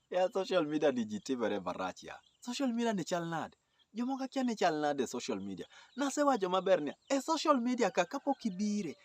ya social media ni ji timore marach ya social media ni chal nade jomoko akia ni chal nade e social media nasewacho maber niya e social media ka kapok ibire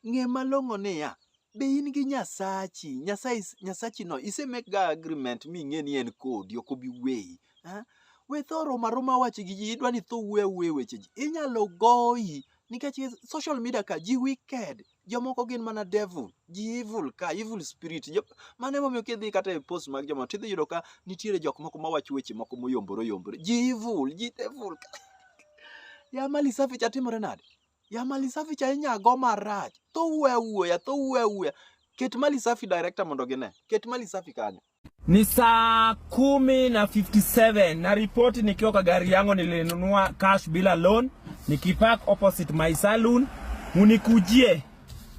ng'e malong'o niya be in gi nyasachi nyasaye nyasachi no ise make ga agreement ming'e ni en kodi ok obi weyi ha? we tho roma roma wache gi ji idwa ni tho wuoya wuoya weche ji inyalo goyi nikech social media ka ji wicked Jomoko gin mana devil, ji evil ka, evil spirit. Jo, mano emomiyo kidhi kata e post mag joma tidhi yudo ka nitiere jok moko mawacho weche moko moyombore oyombore. Ji evil, ji devil ka. ya mali safi cha timore nade? Ya mali safi cha inyago marach. Tho wuoya wuoya, tho wuoya wuoya. Ket mali safi director mondo gine. Ket mali safi kanyo. Ni saa kumi na 57 na ripoti nikiwa kwa gari yangu, nilinunua cash bila loan, nikipark opposite my saloon. Munikujie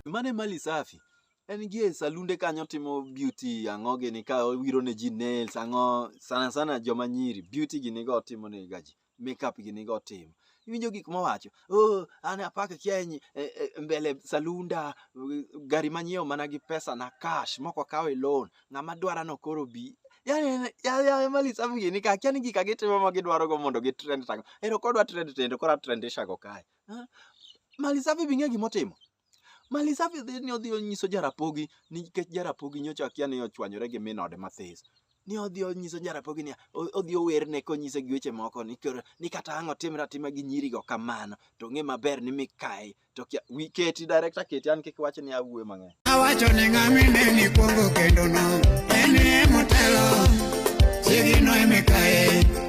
mane mali safi en gie salunde kanyo timo beauty ang'o gini ka wiro ne ji nails ang'o sana sana joma nyiri beauty gini go timo ne gaji makeup gini go timo iwinjo gik mowacho oh, an apaka kieny e, e, mbele salunda gari manyiewo mana gi pesa na cash moko kawo e loan ng'ama dwara no koro bi yani yani mali sabu gini ka kiani gika gitimo ma gidwaro go mondo gi trend tango ero kodwa trend tendo kora trend ishago kae mali sabu bi ng'e gimotimo Mali safi dhi ni odhi onyiso Jarapogi nikech Jarapogi nyocha akia ni ochwanyore gi min ode mathis. Ni odhi onyiso Jarapogi ni o- odhi owerne konyise gi weche moko ni koro ni kata ang' otimre atima gi nyirigo kamano to ng'e maber ni mikayi to kia wi keti director keti an kik wach ni awuoyo mang'eny. Awacho ni ng'ami ne ni kwongo kendo no, en e motelo, chiegino emikaye.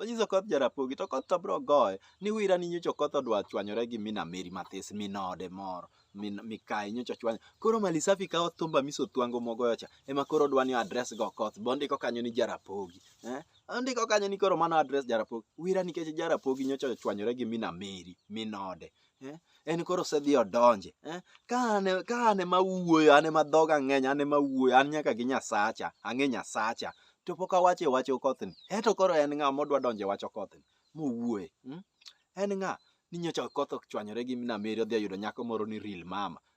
Onyiso Okoth Jarapogi to Okoth to biro goye ni wira ni nyocha Okoth odwa chwanyore gi Mina Meri mathis minode moro min mikayi nyocha chwany koro mali safi kawo thumba miso thwango mogoyo cha ema koro dwa ni address go Okoth be ondiko kanyo ni Jarapogi eh ondiko kanyo ni koro mano address Jarapogi wira nikech Jarapogi nyocha ochwanyore gi Mina Meri minode eh? en koro osedhi odonje eh? ka an ka an ema wuoyo an ema dhoga ng'eny an ema wuoyo an nyaka gi nyasacha ang'e nyasacha to pok awacho e wach okothni eto koro en ng'a modwa donjo e wach okothni mowuoye mm? en ng'a ni nyocha okoth ochwanyore gi minameri odhi oyudo nyako moro ni real mama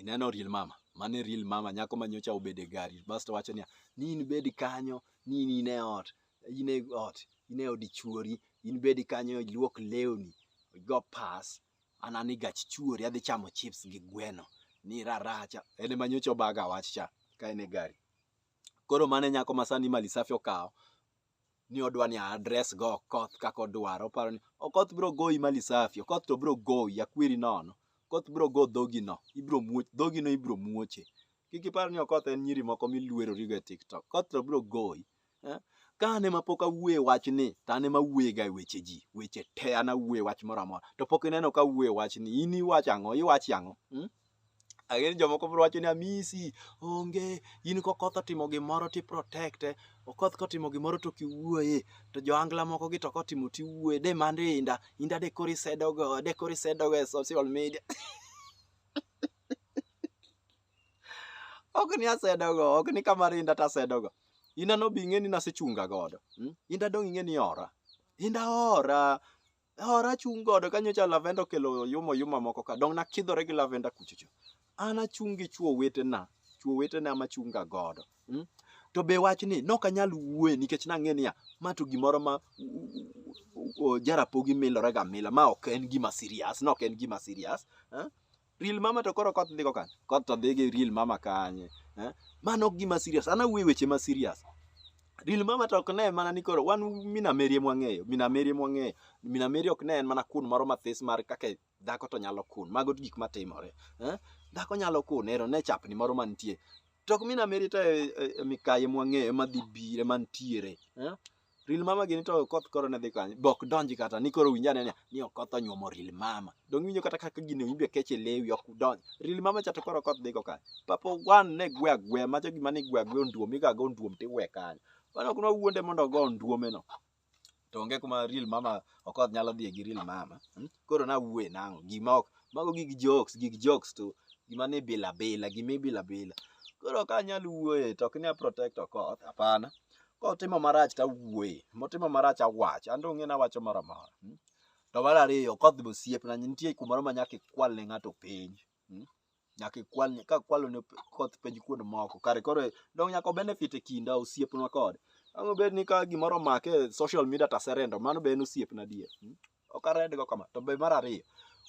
ineno real mama mano e real mama nyako ma nyocha obedo e gari basto wacho niya ni in bed kanyo ni in e ot in e ot in e od chuori in bed kanyo iluok lewni igo pas an an e gach chuori adhi chamo chips gi gweno ni raracha en ema nyocha obaga wach cha ka en e gari koro mano e nyako ma sani mali safi okawo ni odwa ni address go Okoth kaka odwaro. Oparo ni Okoth biro goyi mali safi, Okoth to biro goyi akweri nono. Okoth biro go dhogi no, ibiro muoch, dhogi no ibiro muoche. Kik ipar ni Okoth en nyiri moko miluerori go e TikTok. Okoth to biro goyi. Eh? Ka an ema pok awuoye wachni, to an ema awuoyega e weche ji, weche te an awuoye wach moro amora. To pok ineno ka awuoye wachni, in iwacho ang'o, iwacho ang'o? Hmm? Ang'eyo jomoko biro wacho ni amisi, onge, in kokoth otimo gimoro to i protect e, okoth kotimo gimoro to ok iwuoye, to johangla moko gi to kotimo to iwuoye, de mano inda, inda de koro isedo go, de koro isedo go e social media. ok ni asedo go, ok ni ka mar inda to asedo go. Inda no be ing'e ni nasechunga godo. mm? Inda dong' ing'e ni ora. Inda ora. Hora achung' godo ka nyocha Lavenda okelo yuma yuma moko ka dong' nakidhore gi Lavenda kuchocho. An achung' gi chwo wetena, chwo wetena ma chunga godo. Mm? To be wach ni nok anyal wuoye nikech nang'e niya ma to gimoro ma jarapogi milorega mila ma ok en gima serious, nok en gima serious. Eh? Real mama to koro koth ndiko kan. Koth to dhi gi real mama kanye. Eh? Mano ok gima serious. Ana wuoyo weche ma serious. Real mama to ok ne mana ni koro wan mina merie mwang'eyo, mina merie mwang'eyo. Mina merie ok ne en mana kun moro mathis mar kaka dhako to nyalo kun. Mago gik matimore. Eh? Dhako nyalo kun ero ne chapni moro mantie. To ok mina merie to e, e, e mikaye mwang'eyo madhi bire mantiere. Eh? Ril mama gini to koth koro ne dhi kanye. Bok donji kata ni koro winja ne ni okoth onyuomo ril mama. Dongi winjo kata kaka gini winjo keche lewi ok donji. Ril mama cha to koro koth dhi go kanye. Papa wan ne gwe agwe ma jogi mane gwe agwe onduom iga go onduom tiwe kanye. Wana kuna wuonde mondo ogo onduome no. To onge kuma ril mama okoth nyalo dhie gi ril mama. Hmm? Koro na wuwe nango gima ok mago gig jokes gig jokes to gima ni bila bila gima ibila bila. Koro ka anyal wuoye to ok ni a protect okoth hapana. kotimo marach to awuoye motimo marach awach an donge nawacho moro amora mm. to mar ariyo kodhi osiepna nitie kumoro ma nyaka ikwal ne ng'ato penj mm. nyaka ikwal ne- ka kwalo ne p- koth penj kuond moko kare koro dong nyaka obenefit e kinda osiepnwa kode ang' obed ni ka gimoro omake e social media taserendo mano be en osiepna adier mm. ok aredgo kama to be mar ariyo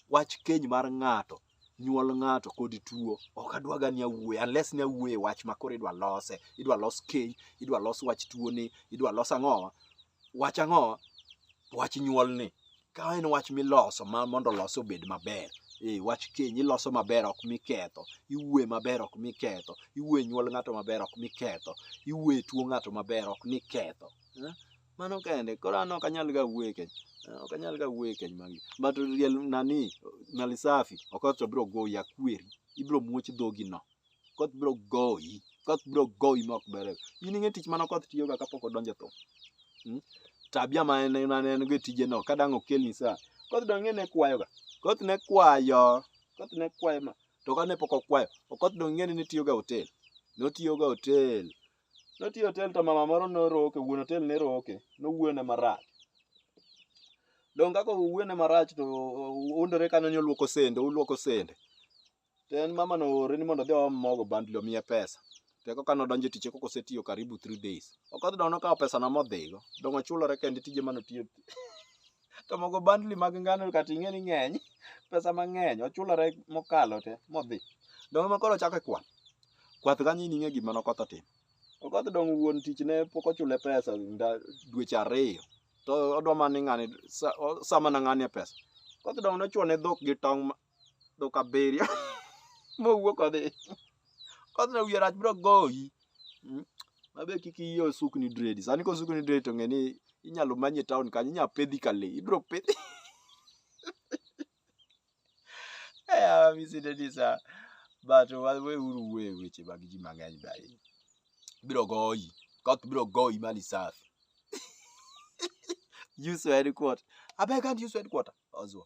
wach keny mar ng'ato nyuol ng'ato kod tuo ok adwaga ni awuoye unless ni awuoye wach ma koro idwa lose idwa los keny idwa los wach tuoni idwa los ang'owa wach ang'owa wach nyuolni ka en wach miloso ma mondo olos obed maber ee wach keny iloso maber ok miketho iwuoye maber ok miketho iwuoye nyuol ng'ato maber ok miketho iwuoye tuo ng'ato maber ok niketho eh? Mano kende, koro an ok anyal ga wuoyo e keny. Ah, Ok anyal ga wuoyo e keny mag but real nani mali safi okoth to biro goyi akweri. Ibiro muoch dhogi no. Koth biro goyi. Koth biro goyi ma ok bere. In ing'e tich mano koth tiyoga kapok odonjo e thum. Mm? Tabia ma en ma ne en go e tije no ka dang' okelni sa. Koth dong' ing'e ne kwayoga. Koth ne kwayo. Koth ne kwayo ma to kane pok okwayo. Okoth dong' ing'e ni ne tiyoga e hotel. Notiyoga e hotel. Notiyo otel to mama moro noroke, wuon otel ne roke, nowuone marach. Donge kaka owuone marach to undore kanyo ni oluoko sende, uluoko sende. To en mama no oore ni mondo odhi oom mogo bundle omiye pesa. To eka kane odonjo e tich eka osetiyo karibu 3 days. Ok odhi dongo nokawo pesano modhigo. Donge ochulore kende tije mane otiyo. to mogo bandli mag ngano kata ing'e ni ng'eny pesa mang'eny ochulore mokalo te modhi donge ma koro ochako e kwath kwath kanyo in ing'e gima nokoth otimo okoth donge wuon tich ne pok ochule pesa nda- dweche ariyo to odwa mana ni ng'ani sa- o- sama na ng'ani e pesa okoth donge nochwo ne dhok gi tong' ma- dhok abiriyo mowuok odhi kodhi na wiye rach biro goyi Mm. mabe kik iye osukni dredi sani kosukni dredi to ng'e ni inyalo manye town kanyo inyalo pedhi ka le ibiro pedhi Eh, Mr. Dennis, ah, but wa- weuru we weche mag ji mang'eny be ahinya biro goyi koth biro goyi mali safi use headquarter abeg and use headquarter ozwa